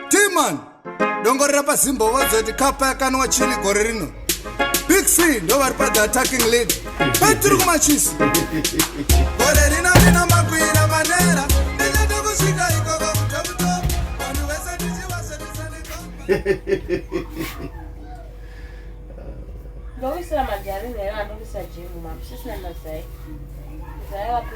timan dongorera pazimbo vozoti kapa yakanwa chini gore rino big c ndo vari pa the attacking lead petiri kumachisi gore rino rino makuira manera ndinyato kusvika ikoko kutomutomu vanhu vese tichivashandisa nekoko Loisera majari nera anokisa jimu mapisisi na mazai. Zaya wapi?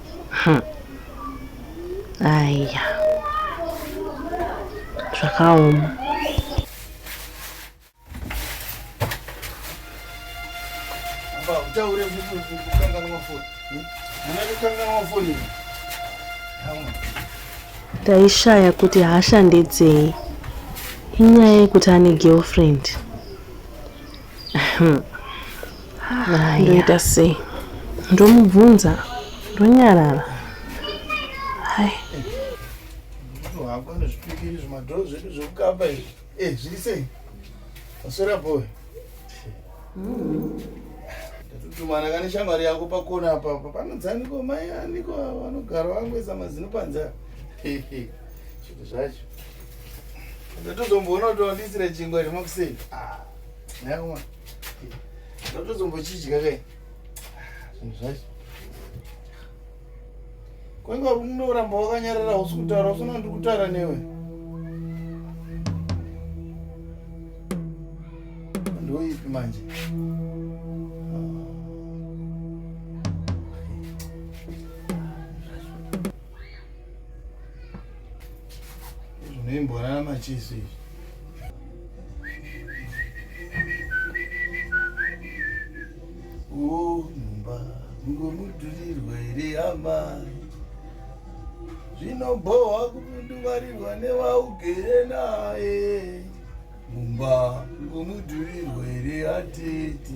Hmm. Aya. Zvakaoma. Utaure kukanganwa foni. Mwana kukanganwa foni. Ndaishaya kuti hasha ndedzei. Inyaya yekuti ane girlfriend. ndoita sei ndomubvunza ndonyarara hai tatutumana kane shamwari yako pakona apapa panonzi aniko mai aniko vanogara vangoisa mazino panza zvinhu zvacho ndatozomboona kuti wandisire chingwa zvemakuseni ah. Nawa. Ndotozombochidya kai. Zvinhu zvacho. Kwanga unoramba wakanyarara usi kutaura usina ndiri kutaura newe. Ndoipi manje? Zvinoimbonana machisi izvi. Oh, mumba mungomudurirwa here hama zvinobhohwa kumunduvarirwa newaugere naye mumba mungomudurirwa here atete